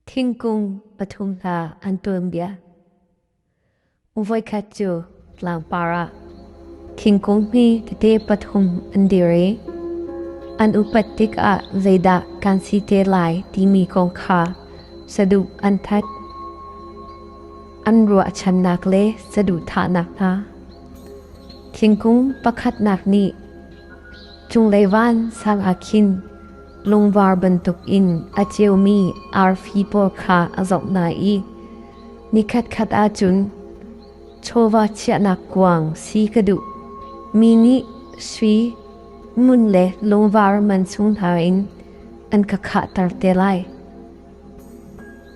Thingkung pathum hla an tuanbia. Voikhat cu tlangpar ah thingkung hi tete pathum an dir i an upat tikah zeidah kan si te lai timi kong kha saduh an that. An ruahchannak le saduhthahnak hna. Thingkung pakhatnak nih cunglei van sang ah khin lungvar bantukin a ceumi arfi pawl kha a zoh hna i nikhatkhat ah cun chawva chiahnak kuang si ka duh mi nih sui ngun le lungvar man chung hna in an ka khahter te lai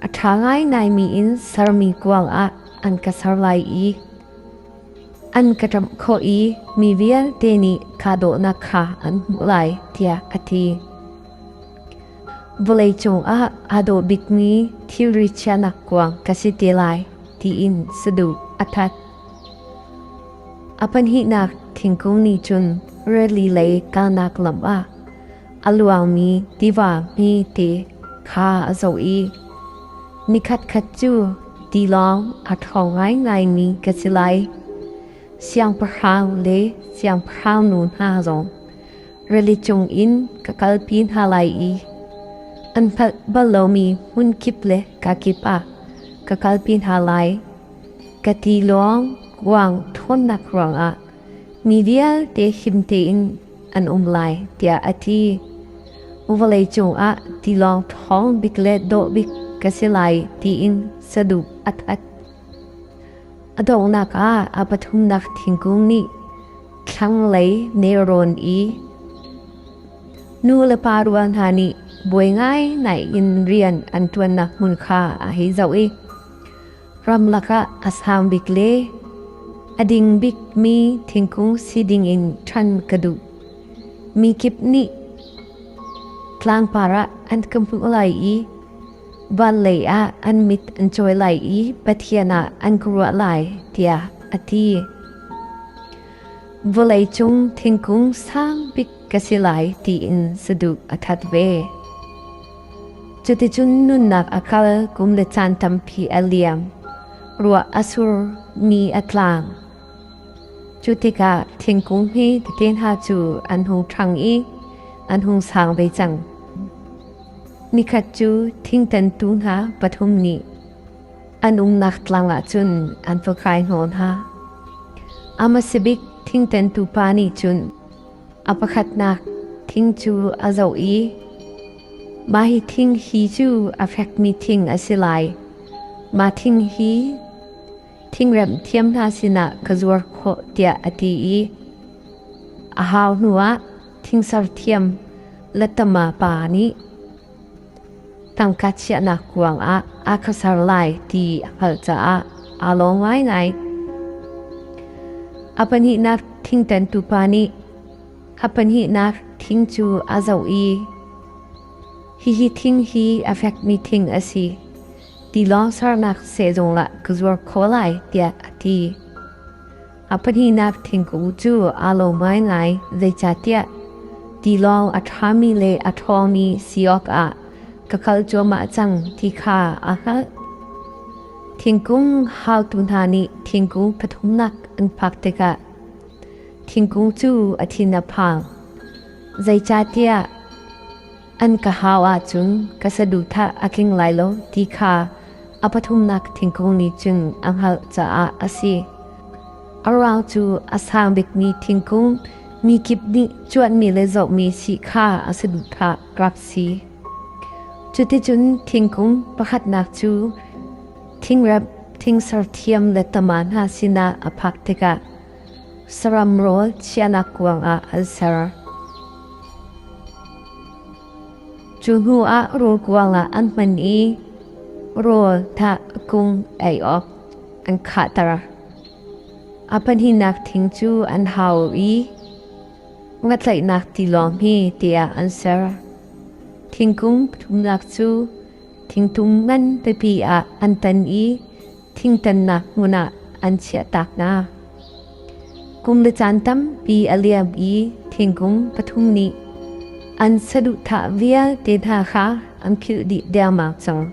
a ṭha ngainaimi in sermi kuang ah an ka ser lai i An ka ṭamh khawh i mi vialte nih kahdohnak kha an hmuh lai tiah a ti. Vawlei cungah aa dawh bikmi thilri chiahnak kuang ka si te lai tiin saduh a that. A pahnihnak thingkung nih cun rili lei kalnak lam ah a luangmi tiva hmete kha a zoh i nikhatkhat cu tilawng a ṭhawng ngaingaimi ka si lai. Siangpahrang le siangpahrangnu hna zong rili cungin ka kalpi hna lai i an hngalh bal lomi hmunkip le kakip ah ka kalpi hna lai. Ka tilawng kuang ṭhawnnak ruangah mi vialte him tein an um lai tiah a ti. Vawlei cungah tilawng ṭhawng bik le dawh bik ka si lai tiin saduh a that. A donghnak ah a pathumnak thingkung nih thlanglei nelrawn i nu le pa rual hna nih buai ngai nai in rian an ṭuannak hmun kha a hei zoh i ramlak ah a sang bik le a ding bikmi thingkung si dingin ṭhan ka duh. Mi kip nih tlangpar ah an ka hmuh lai i van lei ah an mit an cawi lai i Pathian ah an ka ruah lai tiah a ti. Vawlei cung thingkung sang bik ka si lai tiin saduh a that ve. Cuticun nunnak a kal kum le caan tampi a liam. Ruah a sur, mi a tlang. Cu tikah thingkung hi teten ha cu an hung ṭhang i an hung sang ve cang. Nikhat cu thingtantu hna pathum nih an umnak tlang ah cun an va kai hnawl hna. Amasabik thingtantu pa nih cun A pakhatnak thing cu a zoh i, Mah hi thing hi cu a fekmi thing a si lai. Mah thing hi thingremh thiam hna sinah ka zuar khawh tiah a ti i a hau hnuah thing serthiam lattama pa nih, Tangka chiahnak kuang ah aa khuasar lai ti a hngalh caah aa lawm ngaingai. A pahnihnak thingtantu pa nih a pahnihnak thing cu a zoh i hihi thing hi a fekmi thing a si tilawng sernak sehzung lah ka zuar kho lai tiah a ti. A pahnihnak thingkung cu aa lo ngaingai, zeicahtiah ti lawng a ṭhami le a ṭhawngmi si awkah ka kal cuahmah cang ti kha a hngalh. Thingkung haotu hna nih thingkung pathumnak an phak tikah thingkung cu a thin a phang. Zeicahtiah An ka hau ahcun ka saduhthah a tling lai lo ti kha a pathumnak thingkung nih cun a hngalh caah a si. A ruang cu a sang bikmi thingkung mi kip nih cuanmi le zohmi si kha a saduhthah rak si. Cuticun thingkung pakhatnak cu thingrep, thingserthiam le tama hna sinah a phak tikah Saram rawl chiahnak kuangah an ser. Cu hnuah rawl kuangah an hman i rawl thah kung ei awk an khahter. A pahnihnak thing cu an hau i ngatlaihnak tilawng hi tiah an ser. Thingkung pathumnak cu thingtung ngan pipi ah an tan i thingtannak hmun ah an chiahtak hna. Kum le caan tampi a liam i thingkung pathum nih an saduhthah vialte hna kha an khilh dih dermak cang.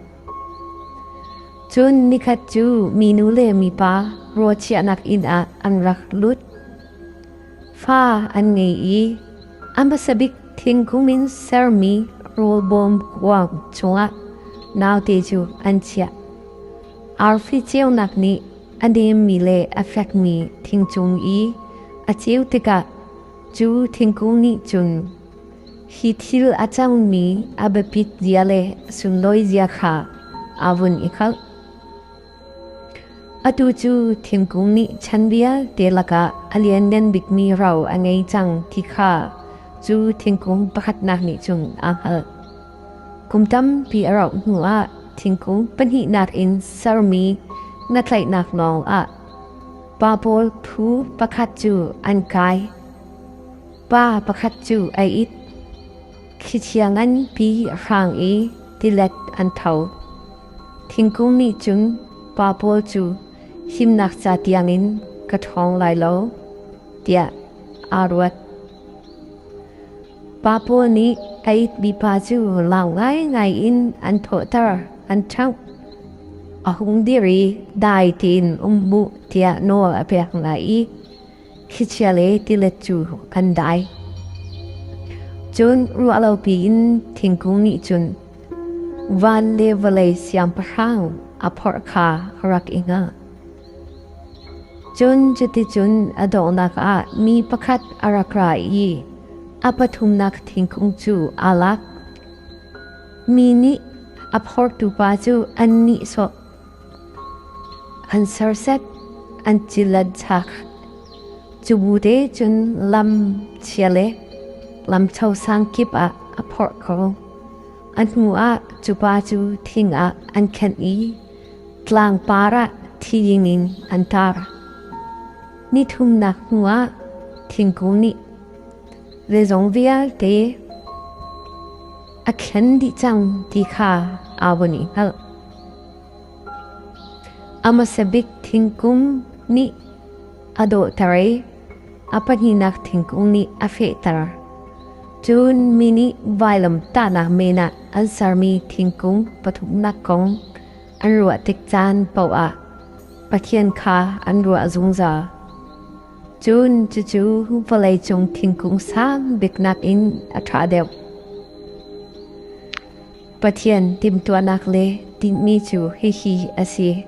Cun nikhat cu minu le mipa raw chiahnak inn ah an rak lut. Fa an ngei i A hmasabik thingkung in sermi rawlbawm kuang chungah naute cu an chiah. Arfi ceunak nih a nemmi le a fekmi thingcung i a ceu tikah cu thingkung nih cun hi thil a cangmi a biapit zia le sunlawizia kha a vun i hngalh. Atu cu thingkung nih chan vialte lakah a lianngan bikmi ro a ngei cang ti kha cu thingkung pakhatnak nih cun aa hngalh. Kum tampi a rauh hnuah thingkung pahnihnak in sermi na tlaihnak nawl ah pa pawl phu pakhat cu an kai. Pa pakhat cu a it. Khichia nganpi hrang i tilet an tho. Thingkung nih cun pa pawl cu himnak ca tiangin ka ṭhawng lai lo, tiah aa ruat. Pa pawl nih a itmipa cu lang ngaingai in an thawhter, an ṭhangh. A hung dir i dai tein um hmuh tiah nawl a pek hna i, Khichia le tilet cu kan dai. Cun ruah lo piin thingkung nih cun van le vawlei siangpahrang a phorh kha rak i hngah. Cun cuticun a donghnak ah mi pakhat a rak ra i a pathumnak thingkung cu aa lak. Mi nih a phortu pa cu an nihsawh. an serset an cilat chak cubu te cun lam chia le lam cho sang kip ah a phorh kho a hnu ah cupa cu thing ah an khenh i tlang par ah thi ding in an tar ni thumnak hnu ah thingkung nih zeizong vialte a khen dih cang ti kha awon i hngalh A hmasabik thingkung nih a dawhter i a pahnihnak thingkung nih a fehter. Cun mi nih vailamtahnak men ah an sermi thingkung pathumnak kong an ruah tik caan paoh ah Pathian kha an ruah zungzal. Cun cucu vawleicung thingkung sang bik nakin a ṭha deuh. Pathian timhtuahnak le tinhmi cu hihi a si: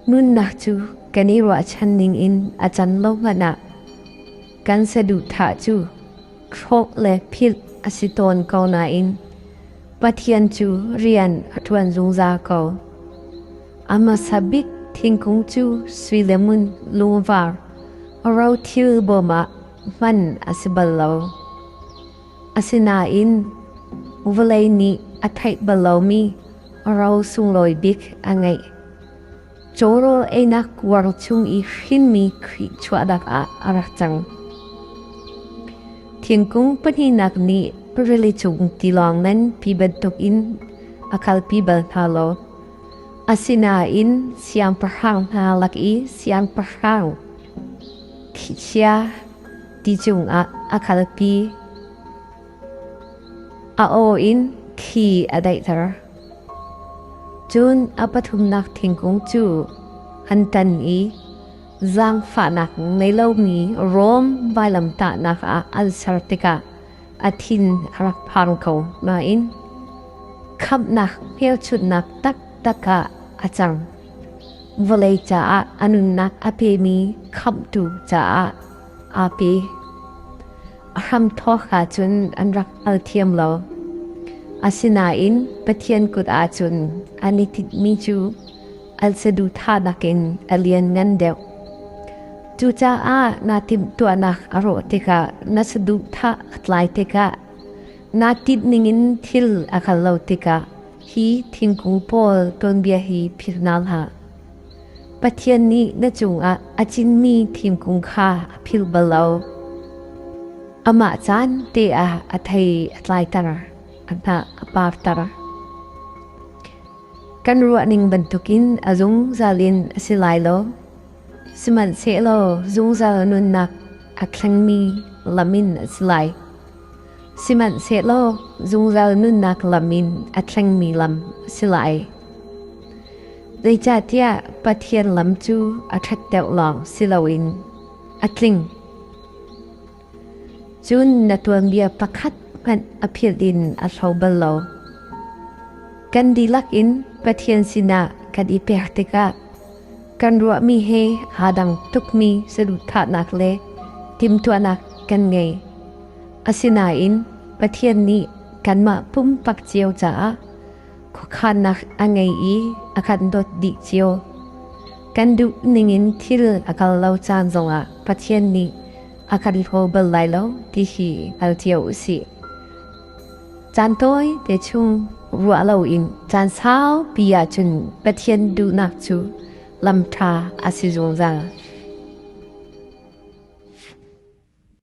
nunnak cu kan i ruahchan ningin a can lo hmanh ah kan saduhthah cu hrawh le philh a si tawn ko nain Pathian cu rian a ṭuan zungzal ko. A hmasa bik thingkung cu sui le ngun lungvar a rothil bawm ah hman a si bal lo. Asinain vawlei nih a theih bal lomi ro sunglawi bik a ngeih. Cawrawl einak kuar chung i hrinmi Khrih chuahnak ah a rak cang. Thingkung pahnihnak nih rili cung tilawng nganpi bantukin a kalpi bal hna lo. Asinain siangpahrang hna lak i siangpahrang, thihchia, ti cungah a kalpi. A aw in thli a daihter. Cun a pathumnak thingkung cu an tan i zaangfahnak nei lomi Rom vailamtahnak ah an ser tikah a thin a rak phang ko nain khamhnak hmelchunhnak taktak ah a cang. Vawlei caah a nunnak a pemi khamhtu caah Aapi. A hramthawk ahcun an rak hngal thiam lo. Asinain Pathian kut ahcun an i tinhmi cu al saduhthahnak in a lianngan deuh. Cucaah naa timhtuahnak a rawh tikah na saduhthah a tlai tikah naa tinhning in thil a kal lo tikah hi thingkung pawl tuanbia hi philh hna hlah. Pathian nih na cungah a cinmi thingkung kha a philh bal lo. Amah caan te ah a thei a tlaiter, a hnah a parter. Kan ruahning bantukin a zungzal in a si lai lo. Sihmanhsehlaw zungzal nunnak a thlengmi lam in a si lai. Sihmanhsehlaw zungzal nunnak lam in a thlengmi lam a si lai. Zeicahtiah Pathian lam cu a ṭhatteu lawng si loin a tling. Cun na tuanbia pakhat hmanh a philh in a hlo bal lo. Kan dihlak in Pathian sinah kan i pek tikah kan ruahmi he haa dang tukmi saduhthahnak le timhtuahnak kan ngei. Asinain Pathian nih kanmah pumpak cio caah khuakhannak a ngei i a kan dawt dih cio. Kan duh ningin thil a kal lo caan zongah Pathian nih a kan hlaw bal lai lo ti hi hngal cio u sih. Caan tawi te chung ruah loin caan saupi ahcun Pathian duhnak cu lam ṭha a si zungzal.